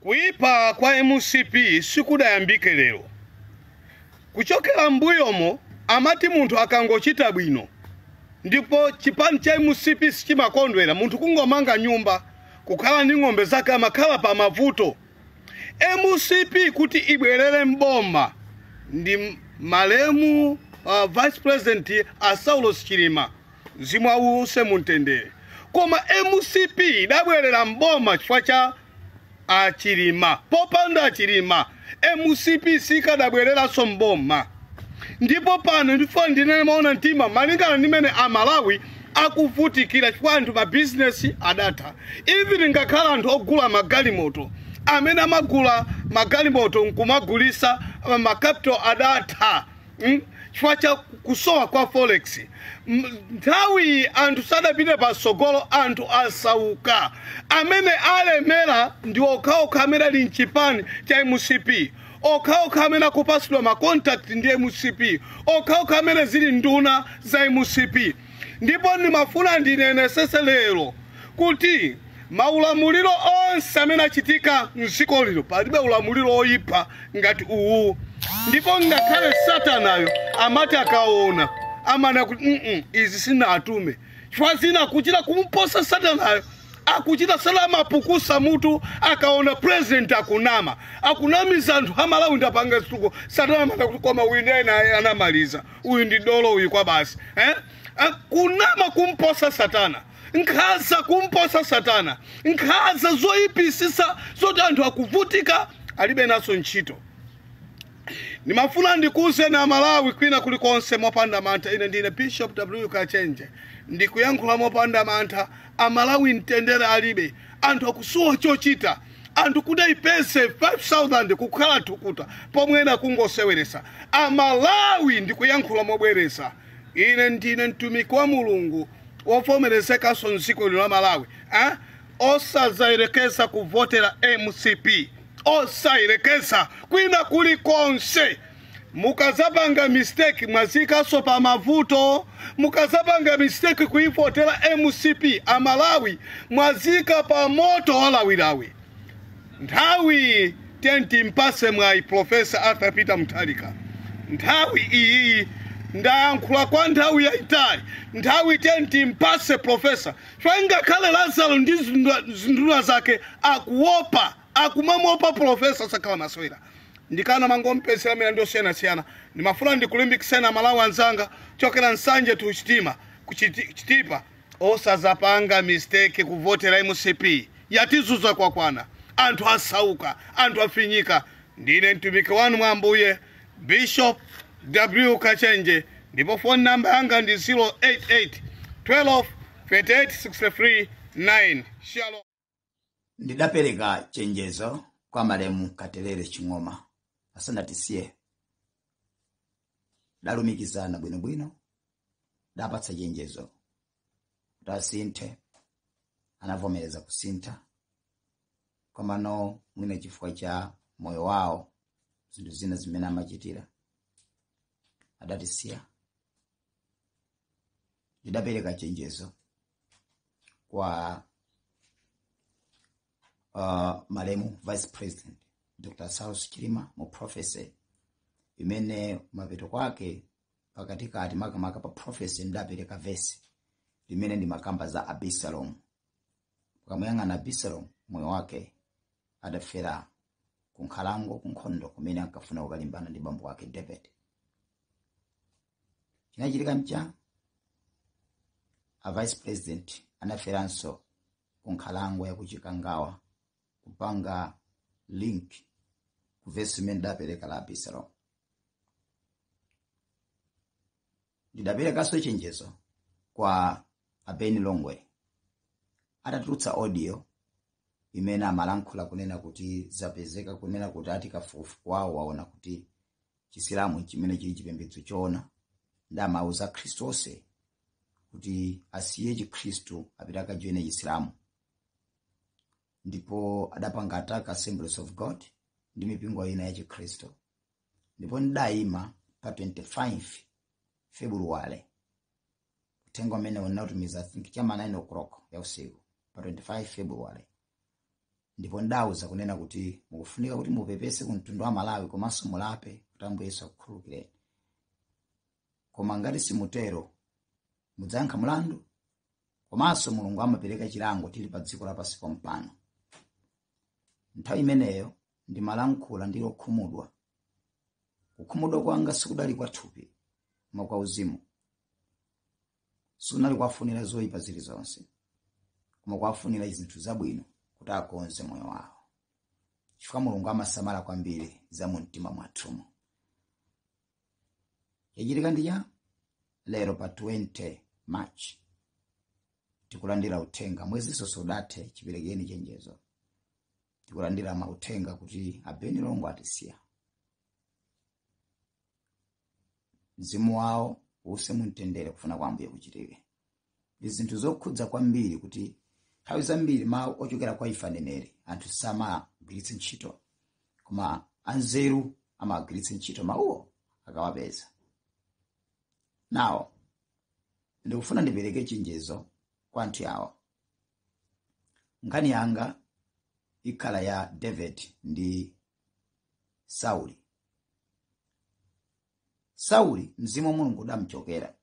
Kuipa kwa mcp sikudayambike lero. Kuchokera mmbuyomo amati munthu akangochita bwino ndipo chipani cha mcp sichimakondwera, munthu kungomanga nyumba, kukhala ndi ng'ombe zake amakhala pa mavuto. Mcp kuti ibwerere m'boma ndi malemu uh, Vice President a Saulos Chilima. mzimu awuse mumtendere koma mcp idabwerera mboma chifukwa cha achilima popanda achilima mcp sikadabwereranso mboma ndipo pano ndifuna ndinene maona mtima malingana ndi mene amalawi akuvutikira chifukwa anthu mabizinesi adatha even ngakhale anthu ogula magalimoto amene amagula magalimoto nkumagulisa makapital adatha Mm? chifukwa cha kusowa kwa forex M- nthawi iyi anthu sadapite patsogolo anthu asauka amene alemera ndi okhaokha amene ali mchipani cha mcp okhaokha amene akupatsidwa makontakti ndi mcp okhaokha amene ali nduna za mcp ndipo ndimafuna ndinenesese lero kuti maulamuliro onse amene achitika mdziko lino palibe ulamuliro woyipa ngati uwu ndipo ngakhale satanayo amati akaona amanena kuti "Mm-mm, izi sinatume chifukwa zina akuchita kumposa satanayo akuchita kumapukusa mutu akaona president akunama akunamiza anthu amalawi ndapanga zituko satana amanena kuti koma wina ena anamaliza uyu ndi dolo uyu kwa basi eh? Ah, kunama kumposa satana nkhanza kumposa satana nkhanza zoyipisisa zoti anthu akuvutika alibe nazo ntchito ndimafuna ndikuuzeni amalawi kwina kulikonse mopanda mantha ine ndine bishop w kachenje ndikuyankhula mopanda mantha amalawi mtendere alibe anthu akusowa chochita anthu kuti ayipeze 5000 kukha thukuta pomwe ena kungoseweresa amalawi ndikuyankhula mobwereza ine ndine mtumiki wa mulungu wovomerezekanso mdziko lino la malawi eh? osazayerekeza kuvotera mcp osayerekeza kwina kulikonse mukazapanga mistake mwaziyikaso pa mavuto mukazapanga mistake kuivotera mcp amalawi mwaziyika pa moto walawilawi nthawi timpase mwayi profesa arthur peter mutharika nthawi iyi ndayankhula kwa nthawi yayitali nthawi timpase profesa chifukwa ngakhale lazaro ndi zinduna- zinduna zake akuopa akumamuopa pulofesa osakhala masewera nchifukwa chake akumangompezera milandu yosiyanasiyana ndimafuna ndikulimbikiseni amalawi anzanga kuchokera nsanje to chitima kuchiti- chitipa osadzapanga mistake kuvotera mcp yatizuza kwakwana anthu asauka anthu afinyika ndine mtumiki wanu mwa ambuye bishop w kachenje ndipo phone number yanga ndi 088 12 38 63 9 shalom ndidapereka chenjezo kwa malemu katelere ching'oma asanatisiye tidalumikizana bwinobwino ndidawapatsa chenjezo kuti asinthe anavomereza kusintha komano mwina chifukwa cha moyo wawo zinthu zina zimene amachitira adatisiya ndidapereka chenjezo kwa uh, malemu vice president dr saulos chilima mu prophecy imene mapeto kwake pakatikati makamaka pa prophecy ndidapereka vesi limene limakamba za abisalomu tikamuyang'ana abisalomu moyo wake adafera kunkhalango kunkhondo kumene ankafuna kukalimbana ndi bambo wake david chinachitika nchani a vice president anaferanso ku nkhalango ya kuchikangawa kupanga link ku vesi imene ndidapereka la abisalomu ndidaperekanso chenjezo kwa a ben longwe atatulutsa audio imene amalankhula kunena kuti zapezeka kunena kuti ati kafukufuku wawo waona kuti chisilamu chimene chili chipembedzo choona ndipo amauza akhristu onse kuti asiye chikhristu apite akajoine chisilamu ndipo adapanga attack assemblies of god ndi mipingo ina ya chikhristu ndipo ndidayima pa 25 februwale uthenga umene ndinatumiza i think chama 9 o'clock ya usiku pa 25 februwale ndipo ndidawauza kunena kuti mukufunika kuti mupepese ku mtundu wa malawi komanso mulape kuti ambuye yesu akukhululukireni koma ngati simutero mudzayankha mulandu komanso mulungu amapereka chilango tili pa dziko lapansi pompano nthawi imeneyo ndimalankhula ndili okhumudwa kukhumudwa kwanga sikudali kwa thupi koma kwa uzimu sinali kuwafunira zoyipa zilizonse koma kuwafunira zinthu zabwino kuti akonze moyo wawo chifukwa mulungu amasamala kwambiri za mu mtima mwathumu chachitika ndi cha lero pa 20 march tikulandira uthenga mwezinso usadathe chiperekeni chenjezo tikulandira mauthenga kuti abeni longo atisiya mzimu wawo uuse mumtendere kufuna kwa ambuye kuchitike ndi zinthu zokhudza kwambiri kuti nthawi zambiri mawu ochokera kwa ife aneneri anthu samagwiritsa ntchito koma anzeru amagwiritsa ntchito mawuwo akawapeza nawo ndikufuna ndipereke chenjezo kwa anthu awa nkhani yanga ikhala ya david ndi sauli sauli mzimu wa mulungu udamchokera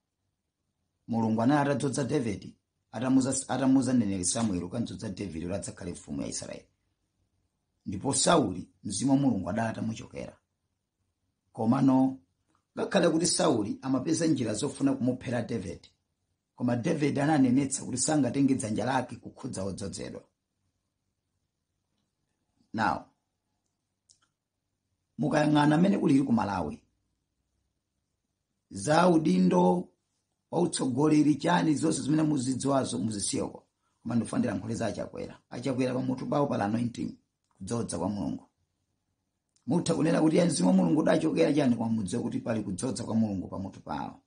mulungu anali atadzodza davidi atamuuza mneneri samueli kukamdzodza davidi kuti adzakhale mfumu ya israeli ndipo sauli mzimu wa mulungu adali atamuchokera komano ngakhale kuti sauli amapeza njira zofuna kumuphera davidi koma davidi ananenetsa kuti sangatenge dzanja lake kukhudza odzodzedwa now mukayang'ana mmene kulili ku malawi za udindo wa utsogoleri chani zonse zimene muzidziwazo muzisiyeko koma ndifuna ndilankhule za a chakwera a chakwera pamutu pawo pali anointing kudzodza kwa mulungu mutha kunena kuti mzimu wa mulungu udachokera chani koma mudziwe kuti pali kudzodza kwa mulungu pamutu pawo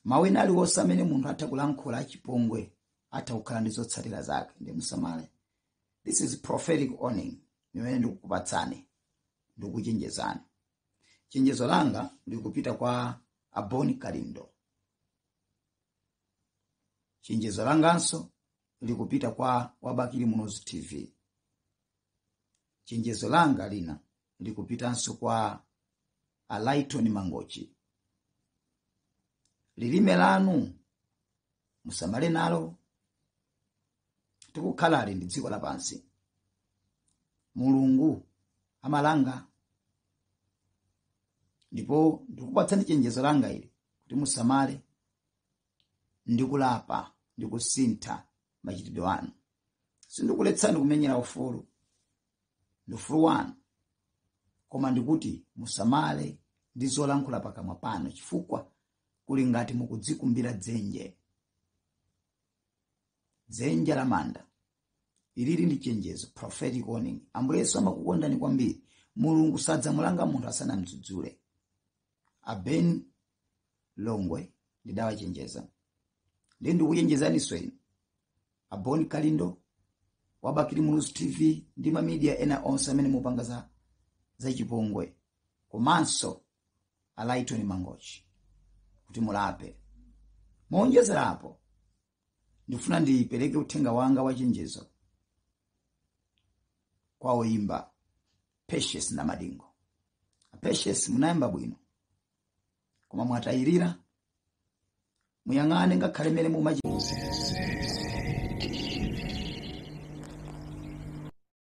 mawu ena aliwonse amene munthu atha kulankhula achipongwe atha kukhala ndi zotsatira zake nde musamale this is prophetic warning imene ndikukupatsani ndikuchenjezani chenjezo langa likupita kwa a bon kalindo chenjezo langanso likupita kwa wa bakili muluzi tv chenjezo langa lina likupitanso kwa a lyton mangochi lilime lanu musamale nalo tikukhalali ndi la dziko lapansi mulungu amalanga ndipo ndikupatsani chenjezo langa ili kuti musamale ndi kulapa ndi kusintha machitidwe anu sindikuletsani kumenyera ufulu ndi ufulu wanu koma ndikuti musamale ndi zolankhula pakamwa panu chifukwa kuli ngati mukudzikumbira dzenje dzenje la manda ili ili ndi chenjezo prophetic warning ambuye yesu amakukondani kwambiri mulungu sadzamulanga munthu asanamdzudzule a Ben Longwe ndidawachenjeza ndiye ndikuchenjezaninso inu a Bon Kalindo a Bakili muluzi tv ndi mamidiya ena onse amene mupanga za chipongwe komanso a Lyton Mangochi kuti mulape. Mowonjezerapo, ndikufuna ndipereke uthenga wanga wachenjezo kwa oyimba Patience Namadingo. A Patience munayamba bwino koma mwatayirira muyang'ane ngakhale mmene mumachi